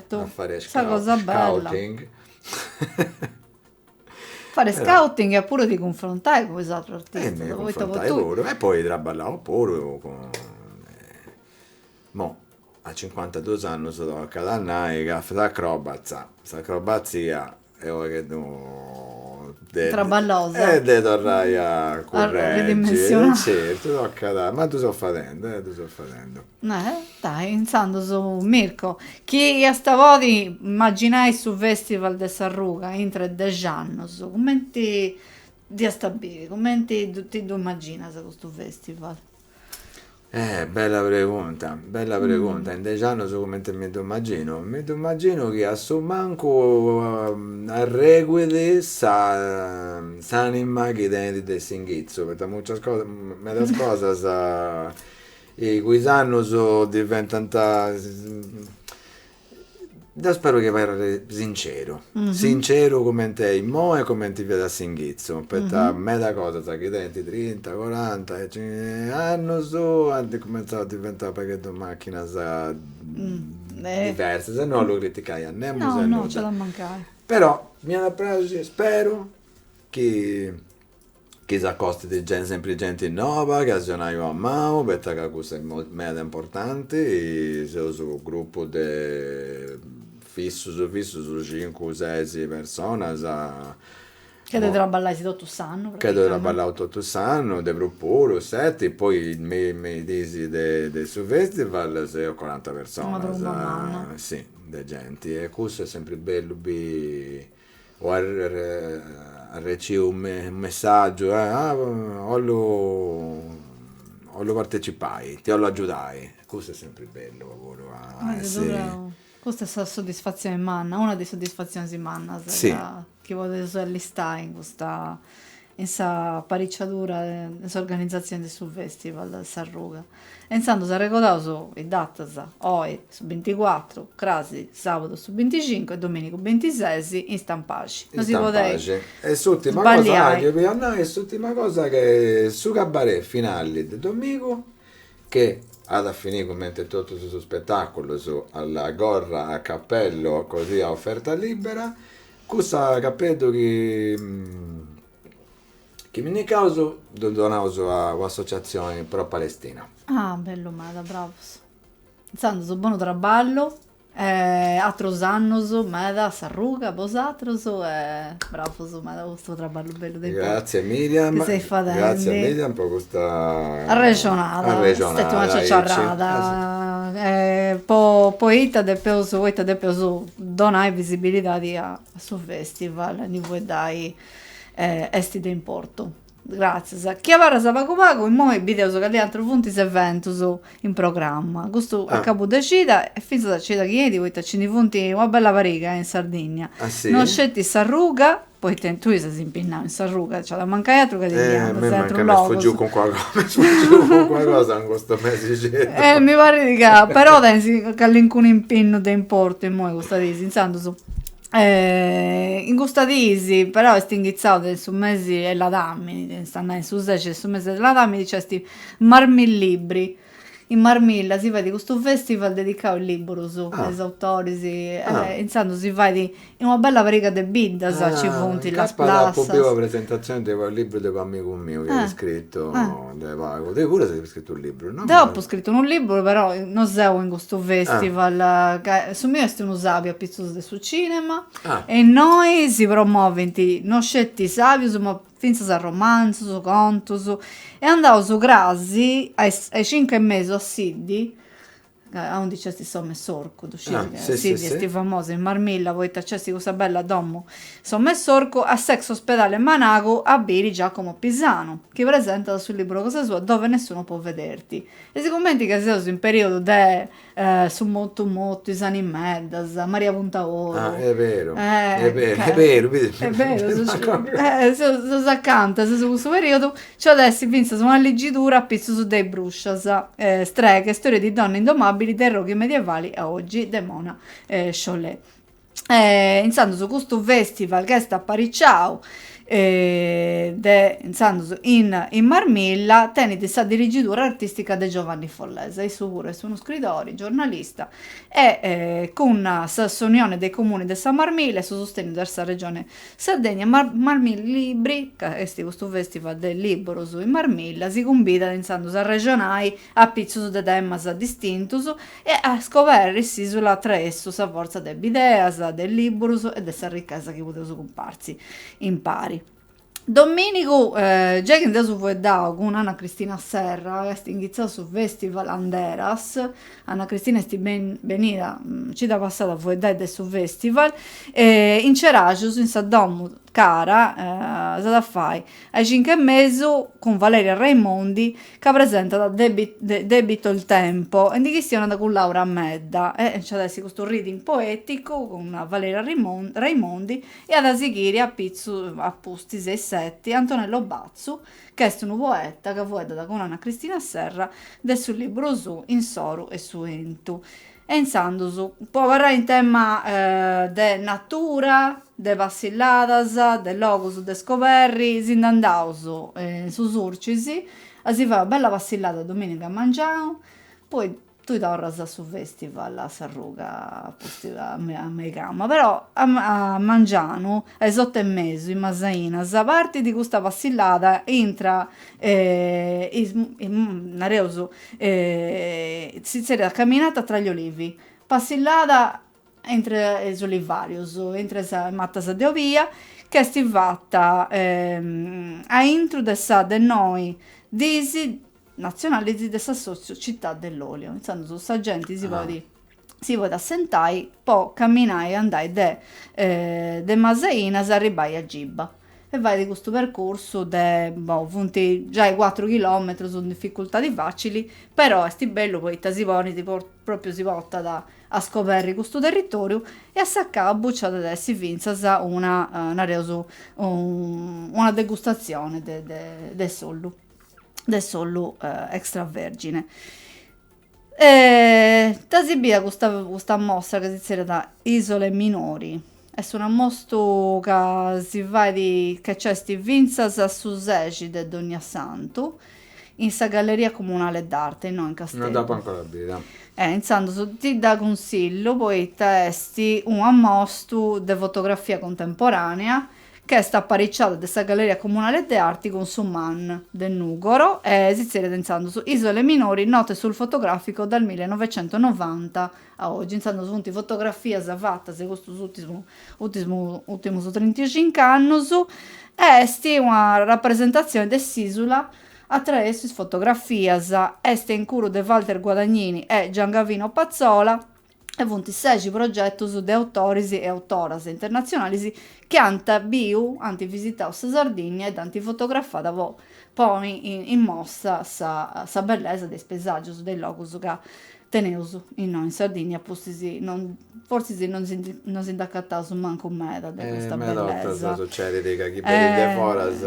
A: po fai scouting. Fai scouting
B: e puru a
A: ti cunfrontai cun is atrus artistas. Mi
B: cunfrontai
A: puru e poi
B: traballu puru cun, mo a cincuantaduus annus tocat a nai ca s'acrobatza, s'acrobatzia est unu pagheddu
A: traballosa e de torrai
B: a curreggi certu
A: tocat
B: ma ddu so fadendi ddu so fadendi dai
A: intzandus Mirko chi iast a podi imaginai su festival de s'arruga intra 'e dex'annus cumenti dd'iast a biri cumenti ti ddu imaginas custu festival
B: Eh bella pregunta, bella pregunta. In dexi annus cumenti mi ddu imaginu? Mi ddu imaginu chi a su mancu arreguit sa s'anima chi tenit de s'inghitzu, poita mucias cosas, medas cosas cun is annus diventant Deu speru chi abarrit sinceru, sinceru comenti immoi e comenti fiat a s'inghitzu, poita meda cosas chi tenint trinta, coranta annus ant cumentzau a diventai u' pagheddu machinas diversas e no 'ollu criticai a nemos e a nudda.
A: Però m'iat a
B: praxiri, speru chi Chi s'acostit genti, sempri genti noba, chi aciungiat una manu, poita ca cussa est meda importanti, seus grupu de fissus fissus cincu ses personas.
A: Chi depeis traballai totu s'annu praticamenti. Ca ddoi traballaus
B: totu s'annu, de prus puru, seti, poi me is dis de su festival seus coranta personas. Una tromba manna. Si,
A: de
B: genti e cussu est sempri bellu biri o arreciu unu messaggiu e ah 'ollu 'ollu partecipai, ti 'ollu agiudai, custu est sempri bellu puru a
A: essi. Custa est sa soddisfatzioni manna, una de is soddisfatzionis mannas si chi
B: podeus
A: allistai in custa in s'apariciadura in s'organizatzioni de su festival S'arruga e intzandus arregodaus is datas, oi su binticuatru, crasi sabadu su binticincu e dominigu bintises in Stampaxi. In Stampaxi e
B: s'urtima cosa, ah chi fia
A: a nai, e
B: s'urtima cosa che su cabaret finali de domigu che at a finì cumenti totus is spetaculus a la gorra, a capellu, così a oferta libera, Cussu capeddu chi pinnicaus ddu donaus a un'associatzioni pro Palestina. Ah bellu
A: meda, bravus. Intzandus bonu traballu e atrus annus meda s'arruga a bosatrus e bravus meda po custu traballu bellu de, gratzias
B: Miriam, chi seis fadendi.
A: Gratzias Miriam po
B: custa arrexonada,
A: arrexonada est stetiu una ciaciarrada e po poita depeus, poita depeus Donai visibilidadi a su festival e ndi fueddai esti de importu. Gratzias. Chi abarras pagu pagu immoi bideus cali atrus funt is eventus in programma. Custu a cabu de cida e fintzas a cida chi 'enit poita nci ndi funt una bella pariga in Sardinnia. No sceti
B: s'arruga.
A: Poita tui ses impinnau in s'arruga, nc'iat a mancai atru ca ti ndi andas a atru logu. Mancai m'est fugiu calincuna cosa, m'est
B: fugiu calincuna cosa in custu mesixeddu. E mi parrit ca,
A: però tenis calincunu impinnu de importu immoi custas dis, intzandus, in custas dis, però, est inghitzau de su mesi 'e ladamini, est a nai, in su sexi de su mesi de ladamini nc'est Marmillibri, In Marmilla si fait custu festival dedicau a is liburus e a is autoris e intzandus si fait in una bella pariga de biddas ci funt Las Plassas. Apu biu una
B: presentazioni
A: de
B: unu libru de u'amigu miu chi at scritu de pagu. Tui puru as scritu u libru, no? Deu apu scritu unu
A: liburu però no seu in custu festival ca su miu est unu sabiu apitzus de su cinema e innoi si promovint no sceti is sabius ma fintzas a romanzus, contus, e andaus crasi a is a is cincu e mesu a Siddi, a undi nc'est s'Omu 'e s'Orcu, ddu sciis, ca Siddi est famosa in Marmilla poita nc'est cussa bella domu s'Omu 'e s'Orcu, a s'ex ospedale Managu a biri Giacomo Pisanu, chi presentat su libru cosa sua Dove nessuno può vederti. E sigumenti ca seus in periodu de Su mortu mortu, is animeddas, Maria Puntaoru. Ah est
B: beru, est beru, est beru,
A: biri. Est beru, seus acanta, seus in cussu periodu. Nci at a essi fintzas una ligidura a pitzus de is bruscias, Streghe, storie di donne indomabili, dai roghi medievali a oggi, de Mona Chollet. intzandus custu festival ch'est apariciau de intzandus in Marmilla tenit sa dirigidura artistica de Giovanni Follesa, issu puru est unu scridori, giornalista e cun sa s'Unione dei Comuni de sa Marmilla e su susteniu de sa Regione Sardegna Marmillibri ca est custu festival de liburus in Marmilla si cumbidat intzandus a arrexonai a pitzus de temas distintus e a scoberri s'Ìsula attraessu sa fortza de bideas, de lìburus e de sa richesa chi podeus cumpartzi impari. Domìnigu, giai chi nd'eus fueddau cun Anna Cristina Serra, est inghitzau su Festival Anderas, Anna Cristina est benida cida passada a fueddai de su Festival, in Ceraxus in sa Domu Cara, s'at a fai a is cincu e mesu cun Valeria Raimondi ca presentat Il debito il tempo e ndi chistionat cun Laura Medda e nc'at essi custu reading poeticu cun Valeria Raimondi e at a sighiri a pitzu a pustis a is setti Antonello Bazzu ch'est unu poeta ca fueddat cun Anna Cristina Serra de su liburu Su 'inu, s'oru e su 'entu. E intzandus, po abarrai in tema de natura, de passilladas, de logus de scoberri, si nd'andaus in su Surcis a si fai una bella passillada dominiga a mangianu, poi tui torras a su festival a s'arruga postu a mei cama, però a mangianu a is otu e mesu in Masainas partidi custa passillada intra nareus si tzerriat Camminata tra gli olivi, passillada intre is olivàrius, intre is matas de obia, ch'est fata aintru de sa de noi disi natzionalis de s'assòtziu Città dell'olio. Intzandus sa genti si podit si podit assentai po caminai e andai de de Masainas arribbai a Giba e faidi custu percursu de boh funt giai cuatru chilometrus un difficultadi facili però esti bellu poita si ponit propriu si portat a scoberri custu territoriu e a s'acabu ci at a essi finzas una nareus una degustazioni de de s'ollu de s'ollu extravergine E dd'as bia custa, custa mostra ca si zerriat Isole Minori, est un'ammostu ca si fait, ca nc'est fintzas a su sexi de Dognasantu, in sa Galleria Comunale d'Arte innoi in Casteddu. Non dd'apo ancora
B: bida. E intzandus
A: ti dda cunsillu poita est un'ammostu de fotografia contemporanea ch'est aparicciada de sa Galleria Comunale de Arti cun su MAN de Nùgoro e si tzerriat intzandus, Isole Minori, note sul fotografico dal millenovecentonovanta a ogi, intzandus funt fotografias fatas de custus ùrtimus ùrtimus trintacincu annus e est una rapresentatzioni de s'ìsula a traessu is fotografias. Est incuru de Walter Guadagnini e Giangavino Pazzola. e funt sexi progetus de autoris e autoras internatzionalis chi ant biu, ant visitau sa Sardìnnia e dd'ant fotografada po poni in mostra sa bellesa de is paesàgius de is logus ca teneus innoi in Sardìnnia e pustis non fortzis non si ndi non si nd'acataus mancu meda de custa bellesa. Meda 'ortas
B: sucedit ca chini benit de foras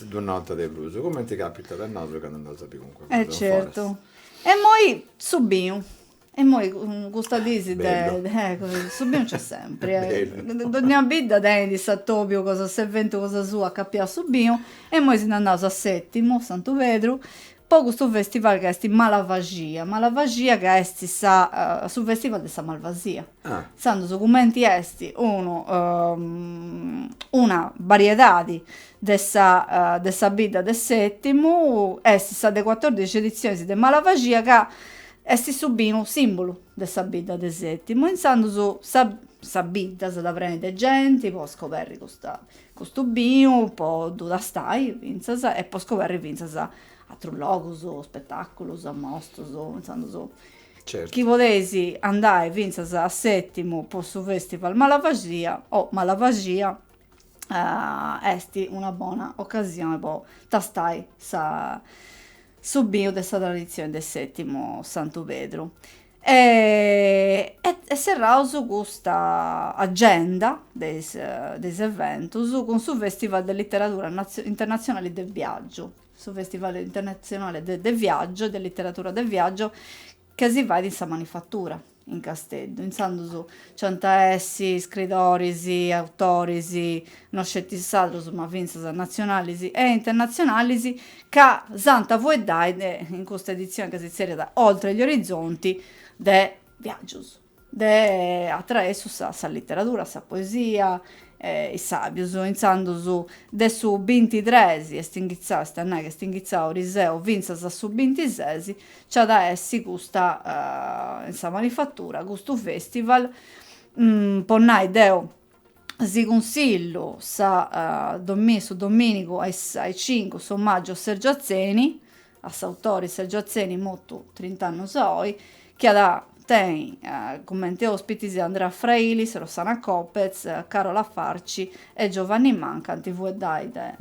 B: ddu
A: notat de prus,
B: cumenti càpitat a nosu candu andaus a biri calincuna cosa foras. E certu.
A: E immoi su binu, Immoi custas dis de su binu nc'est sempri. Dogna bidda tenit s'atobiu cosa s'eventu cosa sua acapiau a su binu e immoi si nd'andaus a Setimu Santu Pedru, po custu festival ca est Malvaxia. Malvaxia ca est sa su festival de sa malvasia. Intzandus cumenti est unu una bariedadi de sa de sa bidda de Setimu est sa de catordixi editzionis de Malvaxia ca est su binu simbulu de sa bidda de Setimu e intzandus sa sa bidda s'at a preni de genti po scoberri custa custu binu po ddu tastai fintzas e po scoberri fintzas atrus logus, spetaculus, ammostas, intzandus
B: chi
A: podeis andai fintzas a Sètimu po su festival Malvaxia o Malvaxia est una bona ocasioni po tastai sa su binu de sa traditzioni de Sètimu Santu Pedru e e serraus custa agenda de is de is eventus cun su festival de literadura internatzionali de viàgiu su Festival Internatzionale de de Viaggio, de Literadura de Viaggio, ca si fait in sa Manifatura, in Casteddu. Intzandus nc'ant a essi iscridoris, autoris, no sceti sardus ma fintzas natzionalis e internatzionalis, ca s'ant a fueddai de in custa editzioni ca si tzerriat Oltre gli orizzonti, de viàgius. de atraessu sa literadura, sa poesia, e is sàgius, intzandus de su bintitresi, est inghitzau, est a nai ca est inghitzau ariseu, fintzas a su bintisesi, nci at a essi custa, in sa Manifatura, custu festival, po nai deu, si cunsillu sa su dominigu a is cincu s'omàgiu a Sergiu Atzeni, a s'autore Sergio Atzeni, mortu trint'annos oi, chi at tenni comente òspitis Andrea Frailis, Rossana Copez, Carola Farci e Giovanni Manca, ant a fueddai de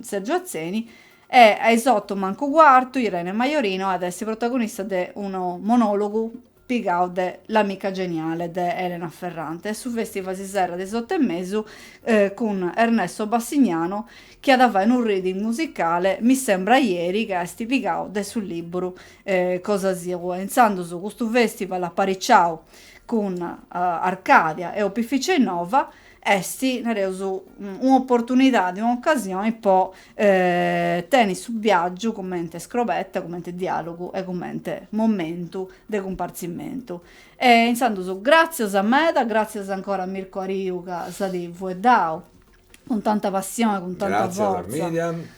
A: Sergio Atzeni, e a is oto mancu cuartu Irene Majorino at a essi protagonista de unu monòlogu pigau de L'amica geniale de Elena Ferrante e su festival si serrat a is otu e mesu cun Ernesto Bassignano chi at a fai unu reading musicale Mi sembra ieri ca est pigau de su liburu cosa sua. Intzandus custu festival apariciau cun Arcadia e Opificio Innova Est, nareus, un'oportunidadi, un'ocasioni po tenit su biagiu cumenti scrobetta, cumenti dialogu e cumenti momentu de cumpartzimentu. E insandus gratzias meda, gratzias ancora a Mirko Ariu ca s'at fueddau cun tanta passioni, cun tanta fortza. Gratzias, Miriam.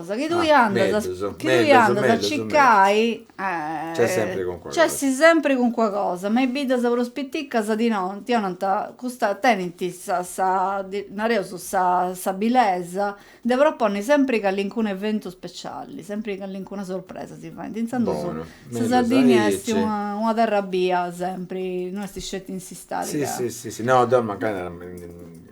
B: cosa
A: chi tui
B: andas chi
A: tui
B: andas
A: a
B: circai nc'est sempri cuncua
A: cosa mancai is biddas prus piticas ti 'onant ti 'onant custa tenint sa sa nareus sa bilesa de proponni sempri callincunu eventu speciali sempri callincuna sorpresa si faint intzandus sa Sardigna
B: est
A: una terra
B: bia
A: sempri no est sceti in s'istadi
B: ca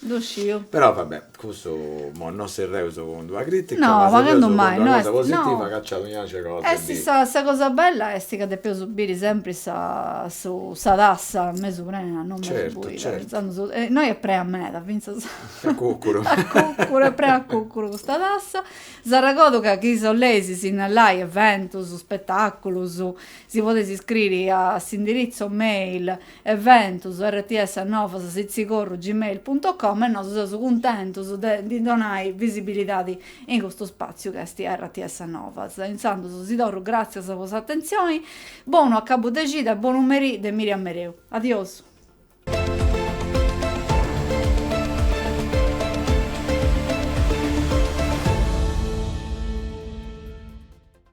B: Ddu
A: sciu. Però va bè,
B: custu imoi non serreus cun d'una critica, ma serreus cun
A: d'una cosa positiva
B: ca
A: nci
B: at donau cosa de biri. Est sa cosa
A: bella est ca depeus biri sempri sa su sa tassa mesu prena, non mesu buida, fintzas innoi
B: est
A: prena meda, fintzas a
B: cucuru a cucuru,
A: est prena a cucuru custa tassa. S'arregodu ca chi 'oleis sinnalai eventus, spetaculus, si podeis scriri a s'indiritzu mail eventus rts novas sitzigorru gmail punto com e nosu seus cuntentus de ndi donai visibilidadi in custu spàtziu chi est rts novas intzandus si torru gràtzias po s'atentzioni bonu acabu de cida e bonu merì de Miriam Mereu adiós.